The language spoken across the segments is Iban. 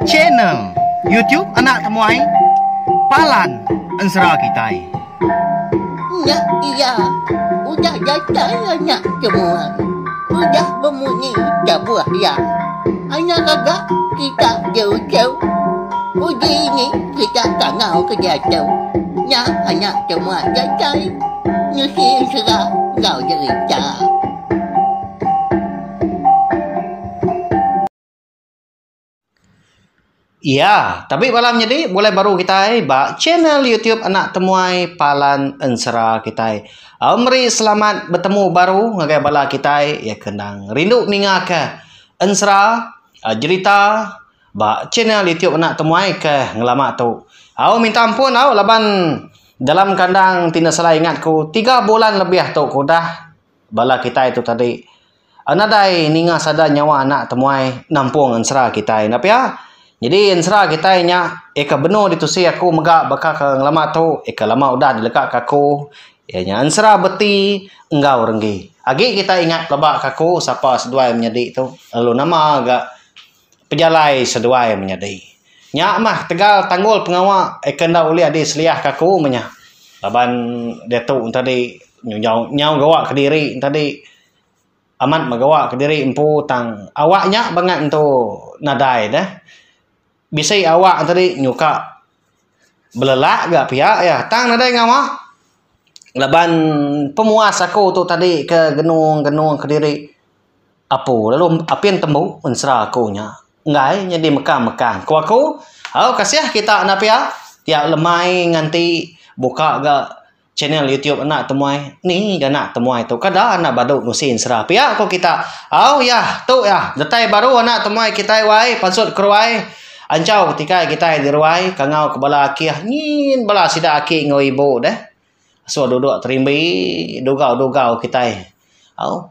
Channel YouTube anak temuai Palan Ensera kitai. Nya iya, udah datai anak temuai. Udah bemunyi tabuh iya. Anak gaga kita diuchau. Uji ini kita tangau ke diatu. Nya anak temuai datai ngisi ensera enggau derita. Iya, tapi bala menyadi bulai baru kitai ba channel YouTube anak temuai Palan Ensera kitai. Au meri selamat betemu baru ngagai bala kitai iya ke endang rindu ninga ke ensera ah, jerita ba channel YouTube anak temuai ke ngelama tu. Au minta ampun au laban dalam kandang ti enda salah ingat ku tiga bulan lebih tu ku udah bala kitai tu tadi nadai ninga sada nyawa anak temuai nampung ensera kitai enda pia nyadi ensera kitai nya iya ke benung ditusi aku mega baka ke ngelama tu iya ke lama udah dilega ka aku iya nya ensera beti enggau renggi agi kitai ingat pelaba ka aku sapa seduai menyadi tu lalu nama ga Pejalai seduai menyadi. Nya mah tegal tanggul pengawa ke enda ulih adi seliah ke aku meh nya. Laban diatu enti adi nyau nyau gawa kediri enti adi amat meh gawa kediri empu tang awak nya bangat entu nadai deh. Bisi awak enti adi nyuka. Belelak ga pia iya tang nadai ngawa laban pemuas aku tu tadi ke genung-genung kediri apu lalu apin tembu un sera aku nya enggai nyadi mekang-mekang ku aku au kasih kita enda pia tiap lemai nganti buka ga Channel YouTube anak temuai ni ga anak temuai tu kada anak badu ngusi ensera pia ko kita au yah tu yah datai baru anak temuai kitai wai pansut keruai anjau tikai kitai di ruai kangau ke bala akih nyin bala sida aki enggau ibu deh sua duduk terimbi dugau dugau kitai au.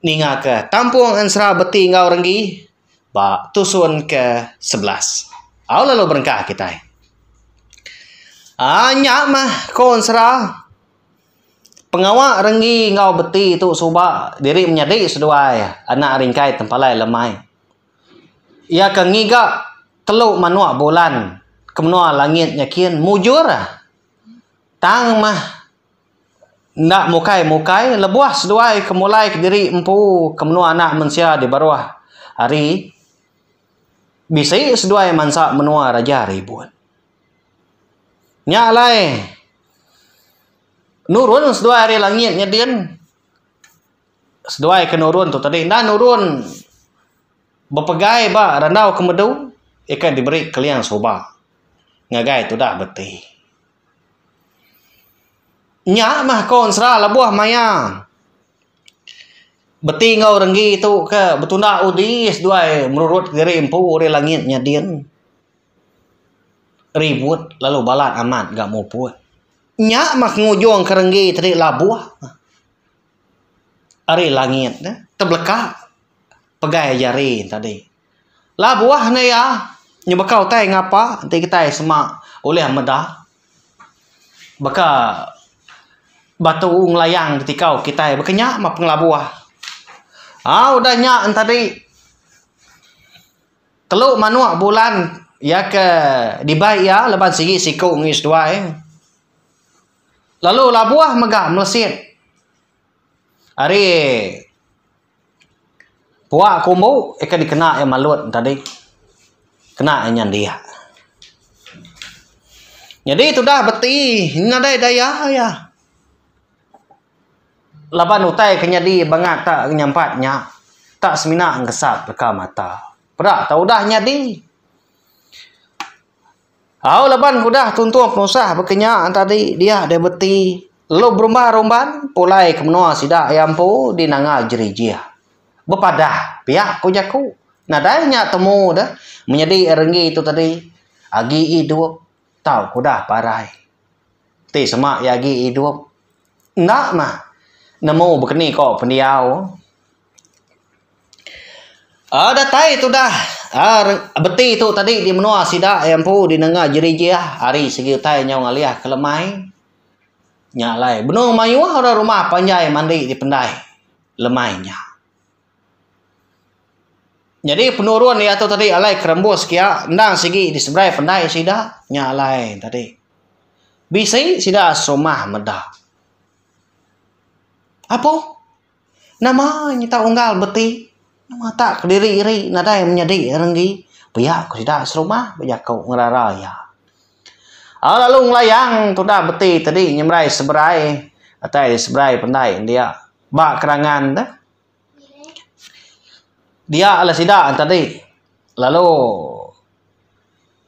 ninga ke tampung ensera beti enggau renggi ba tusun ke sebelas au lalu berengkah kitai aaa nya mah ko ensera pengawa renggi enggau beti tu suba diri menyadi seduai anak ringkai tempalai lemai iya ke ngiga telu manuk bulan ke menua langit nyakin mujur tang mah enda mukai-mukai lebuh seduai ke mulai kediri empu ke menua anak mensia di baruh hari bisi seduai mansa menua raja ribut. Nya alai nurun seduai ari langit nyadin seduai ke nurun tu tadi enda nurun bepegai ba randau ke medu ika diberi keliang suba ngagai tudah beti. Nya mah ko ensera lebuh maya beti enggau renggi tu ke betunda udi seduai merurut diri empu ri langit nyadin ribut lalu balat amat ga muput. Nya mah ngujung ke renggi ti diri labuh ari langit ne tebeleka pegai jari ne tadi. Labuh ne iya nyebaka utai ngapa enti kitai sema ulih meda baka batu ngelayang ketikau kitai baka nya mapun labuh. Au udah nya enta di telu manok bulan iya ke dibai iya laban sigi siku ngi seduai lalu labuh mega melesit ari Puak aku empu ika dikena iya malut tadi kena iya nyandik. Nyadi tudah beti nadai daya iya laban utai ke nyadi bangat ta nyampat nya ta semina ngesap leka mata peda tau udah nyadi. Au laban ku udah tuntung penusah baka nya tadi dia deh beti lalu berumba rumban pulai ke menua sida iya empu di nanga jerijih. Bepadah pia ku jaku nadai nya temu deh menyadi renggi tu tadi agi idup tau ku udah parai ti sema iya agi idup. Enda mah nemu bekeni ko pendiau. Aaa datai tu dah aaa beti tu tadi di menua sida iya empu di nengah jerijih ari segi utai nyau ngalih ke lemai. Nya alai benung mayuh orang rumah panjai mandi di pendai lemai nya. Nyadi penurun diatu tadi alai kerembus kia endang sigi diseberai pendai sida nya alai tadi bisi sida serumah meda apo nama nyita unggal beti matak kediri iri nadai menyadi renggi pia ku sida serumah bejaku ngerara iya au lalu ngelayang tudah beti tadi nyeberai seberai atai seberai pendai india ba kerangan deh. Dia lalu sida tadi lalu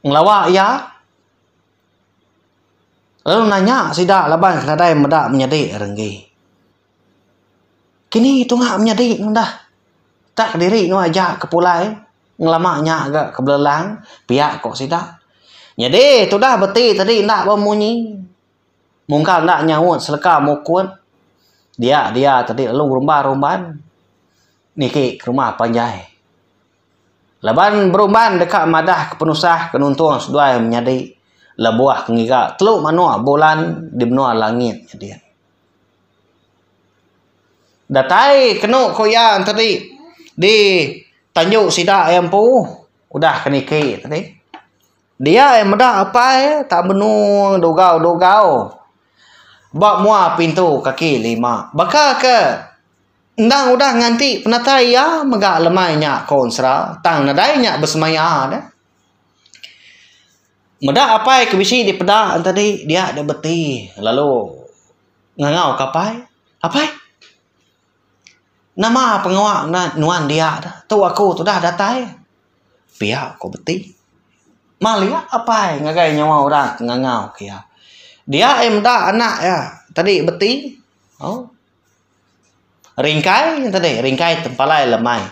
ngelawa iya lalu nanya sida laban nadai meda menyadi lalu enggi. Kini tunga menyadi ngundah tak diri nuan aja ke pulai ngelama nya ga ke belelang pia ko sida. Nyadi tudah beti tadi enda ba munyi. Mungka enda nyaut seleka mukut dia dia tadi lalu rumban rumban niki ke rumah panjai. Laban berumban deka madah ke penusah ke nuntung seduai menyadi lebuh ke ngiga telu manok bulan di menua langit nya diak. Datai kenu ku iya tadi di tanju sida iya empu udah ke niki tadi. Dia ai meda apai tak menung dugau-dugau ba mua pintu kaki lima. Baka ke endang udah nganti penatai iya mega lemai nya konsra tang nadai nya besemaya deh. Meda apai ke bisi dipeda tadi dia deh beti lalu ngangau ka apai, Apai. Nama pengawa nuan dia tu? Tu aku tudah datai. Pia ku beti. Malia apai ngagai nyawa orang ke ngangau ke iya. Dia aja meda anak iya tadi beti. Au. Ringkai nya tadi, ringkai tempalai lemai.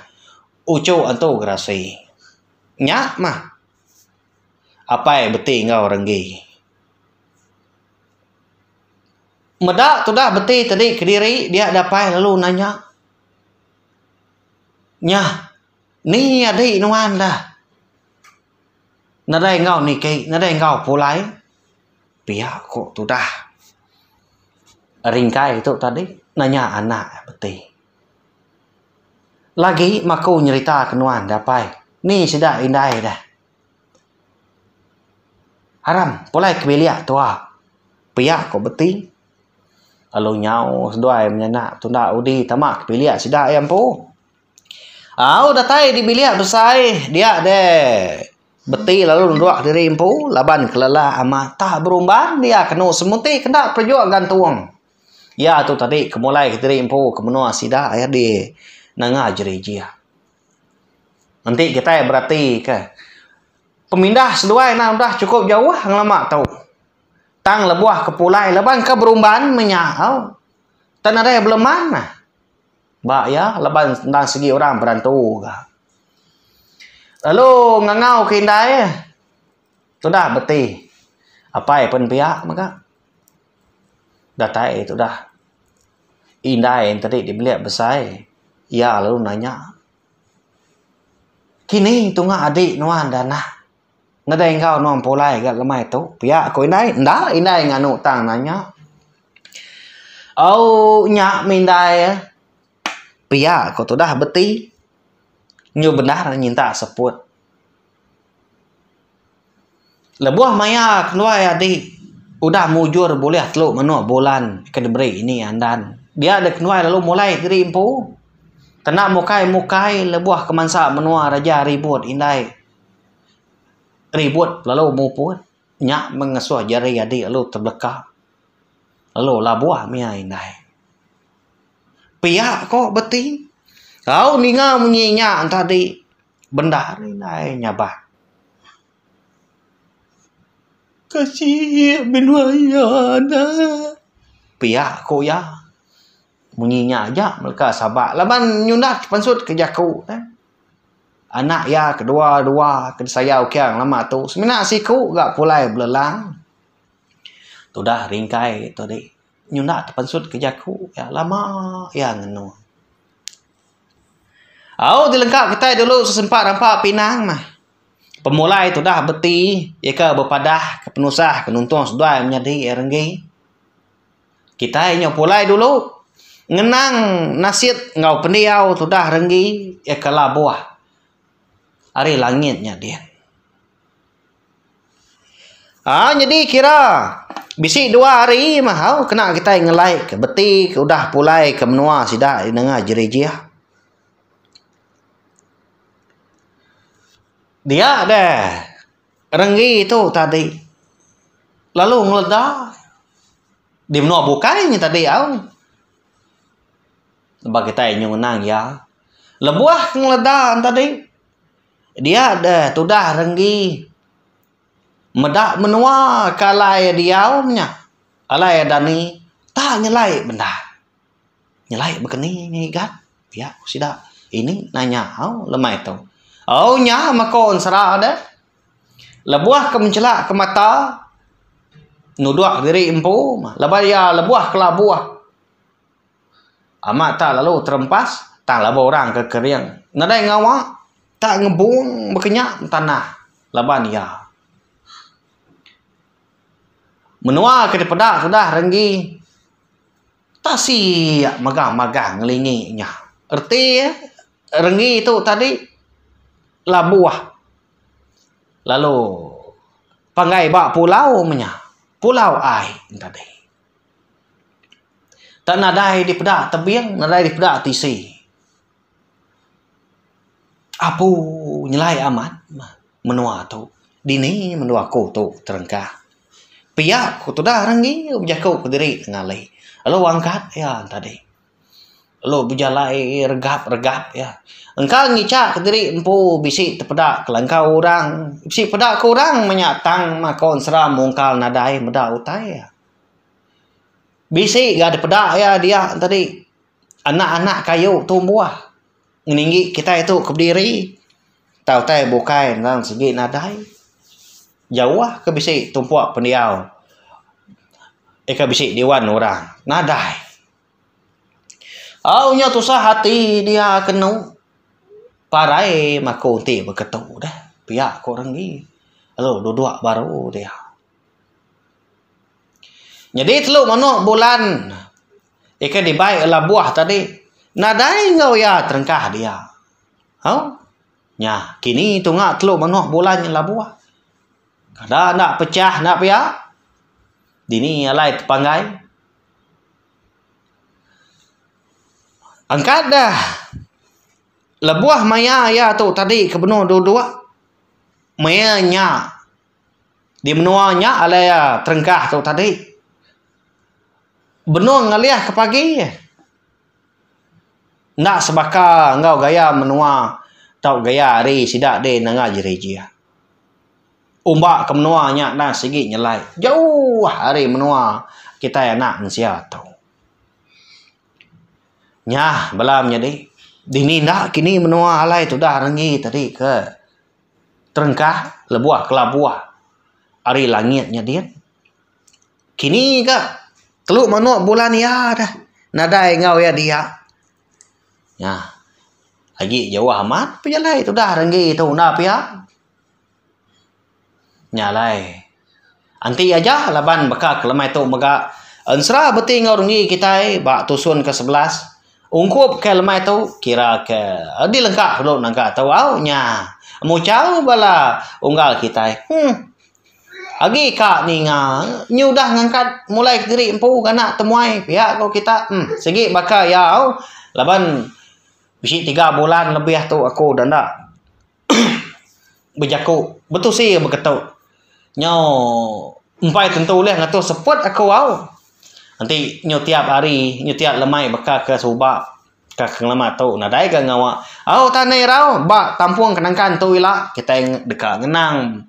Uchu antu gerasi. Nya mah. Apai beti enggau renggi. Meda tudah beti tadi kediri dia dapai lalu nanya nya ni adi nuan da nadai enggau niki nadai enggau pulai pia ko tudah ringkai tu tadi nanya anak iya beti lagi maku nyerita ke nuan dapai ni sida indai da. Aram, pulai ke bilik tua. Pia ko beti. Lalu nyau seduai menya enda tunda udi tama ke bilik sida ai empu. Au datai di bilik besai dia deh beti lalu nerok diri empu laban kelala amat tah berumban dia kenu semuti kenda perejuk gantung. Ia tu tadi ke mulai ke diri empu ke menua sida ai deh nanga jerijih. Enti kitai beratika, pemindah seduai enda udah chukup jauh ngelama tu. Tang lebuh ke pulai laban ke berumban menya au. Tan nadai beleman nah. Ba iya laban endang sigi orang berantu ga. Lalu ngangau ke indai, tudah beti. Apai pen piak mega. datai tu dah indai yen tadi dibelik besai iya lalu nanya kini tunga adik nuan dah nah ngedai enggau nuan pulai gak lemai tu pia ko indai enda indai nganu tang nanya ooh nya mih indai e pia ko tu dah beti nyu bendar nyintak seput. Lebuh maya keluai adi udah mujur bulih telu menoh bulan ke diberi ini andan dia deh keluai lalu mulai diri empu kena mukai mukai lebuh kemansa menua reja ribut indai ribut lalu muput nya meh ngesoh jeri adi lalu tebeleka lalu labuh mia indai pia ko beti au ninga munyi nya enta di. Bendar ari indai nyabak kasih binua iya enda. Pia ku iya munyi nya aja leka sabak laban nyundak pansut ke jaku ne. Anak iya ke dua dua ke disayau King lama tu semina siku ga pulai belelang tudah ringkai tu adi nyundak pansut ke jaku iya lama iya ngenung. Au ti lengka kitai dulu sesempa rampa pinang mah. Pemulai tudah beti nyeka bepadah ke penusah ke nuntung seduai menyadi iya renggi. Kitai nyau pulai dulu ngenang nasit enggau pendiau tudah renggi iya ke labuh ari langit nya din. Haa nyadi kira bisi dua hari mahau kena kitai ngelai ke beti ke udah pulai ke menua sida di nengah jerijih. Dia deh renggi tu tadi lalu ngeleda di menua bukai nya tadi au ba kitai nyu ngenang iya lebuh ngeleda tadi. Dia deh tudah renggi meda menua ke alai iya diau nya. Alai iya dani tak nyelai bendar. Nyelai bekeni ngah iga pia ku sida ini nai nya au lemai tu. Au nya meko ensera deh lebuh ke menchela ke mata nudok diri empu mah lebuh iya lebuh kelabuh. Amat tak lalu terempas, tang laba orang ke kering. Nadai ngawa, tak ngebung bekenyak tanah laban iya. Menua ke dipeda tudah renggi tak siyak mega magah ngelingi nya. Reti iya, renggi tu tadi labuh lalu panggai ba pulau menya. Pulau ai yen tadi. Tang nadai dipeda tebing, nadai dipeda tisi. Apu nyelai amat menua tu. Dini menua aku tu terengkah. Pia ku tudah renggi bejaku kediri nengah ali. Lalu wang kat iya tadi. lalu bejalai regap regap iya engka ngicha kediri empu bisi tepeda kelangkau orang bisi peda ke orang menya tang makon sera mungkal nadai meda utai iya bisi ga dipeda iya dia tadi anak anak kayu tumbuh ngeninggi kitai tu ke bediri tau utai bukai endang sigi nadai jauh ke bisi tumpu pendiau ika bisi diwan orang nadai. Au nya tusah ati dia kenu parai maku enti beketu deh pia ku orang agi lalu dudok baru dia. Nyadi telu manok bulan ikan dibai labuh tadi nadai enggau iya terengkah dia au nya kini tunga telu manok bulan nya labuh kada enda pecah enda pia dini alai tepanggai. Engka deh lebuh maya iya tu tadi ke benung dua dua maya nya di menua nya alai iya terengkah tu tadi benung ngalih ke pagi enda sebaka enggau gaya menua tau gaya hari sida deh nengah jeri ji iya. Umba ke menua nya enda sigi nyelai jauh ari menua kitai anak mensia tu. Nya bala menyadi dini enda kini menua alai tudah renggi tadi ke terengkah lebuh kelabuh ari langit nya din. Kini ga telu manok bulan iya deh nadai enggau iya dia. Nya agi jauh amat pejalai tudah renggi tu enda pia. Nya alai. Enti aja laban baka ke lemai tu mega ensera beti enggau renggi kitai ba tusun ke sebelas ungkup ke lemai tu kira ke dilengka dulu naga tu au nya muchau bala unggal kitai huh agi ka ninga nyudah ngangkat mulai kediri empu ngena temuai pia ko kita huh sigi baka iya au laban bisi tiga bulan lebih tu aku enda bejaku betusi iya beketu nyau empai tentu ulih ngatur seput aku au enti nyu tiap hari nyu tiap lemai baka ke suba ka pengelama tu nadai ga ngawa au tan neh irau ba tampung ke nangkan tu ila kitai deka ngenang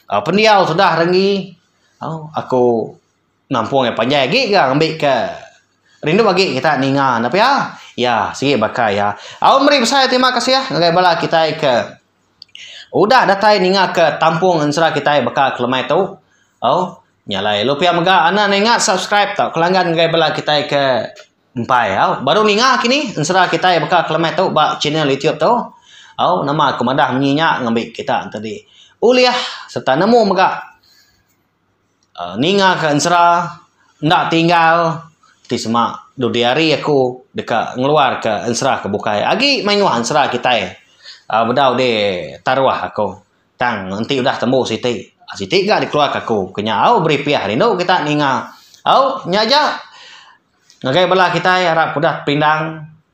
pendiau sudah ringi au aku Nampung iya panjai agi ga ngambika rindu agi kita ninga ne pia. Iya sigi baka iya. Au meri besai terima kasih ngagai bala kitai ke udah datai ninga ke tampung ensera kitai baka ke lemai tu. Au nya alai lu pia mega anak ne ingat subscribe tauka langgan ngagai bala kitai ke empai au baru ninga kini ensera kitai baka ke lemai tu ba channel YouTube tu. Au nama ku madah munyi nya ngambi kita enti ulih sereta nemu mega. uhh ninga ka ensera enda tinggal ti sema dudi hari aku deka ngeluar ka ensera ke bukai agi mayuh ensera kitai uhh bedau di taruh aku tang enti udah tembu siti siti ga dikeluar ka aku ke nya au beripih rindu kita ninga au nya aja ngagai bala kitai arap ke udah dipindang.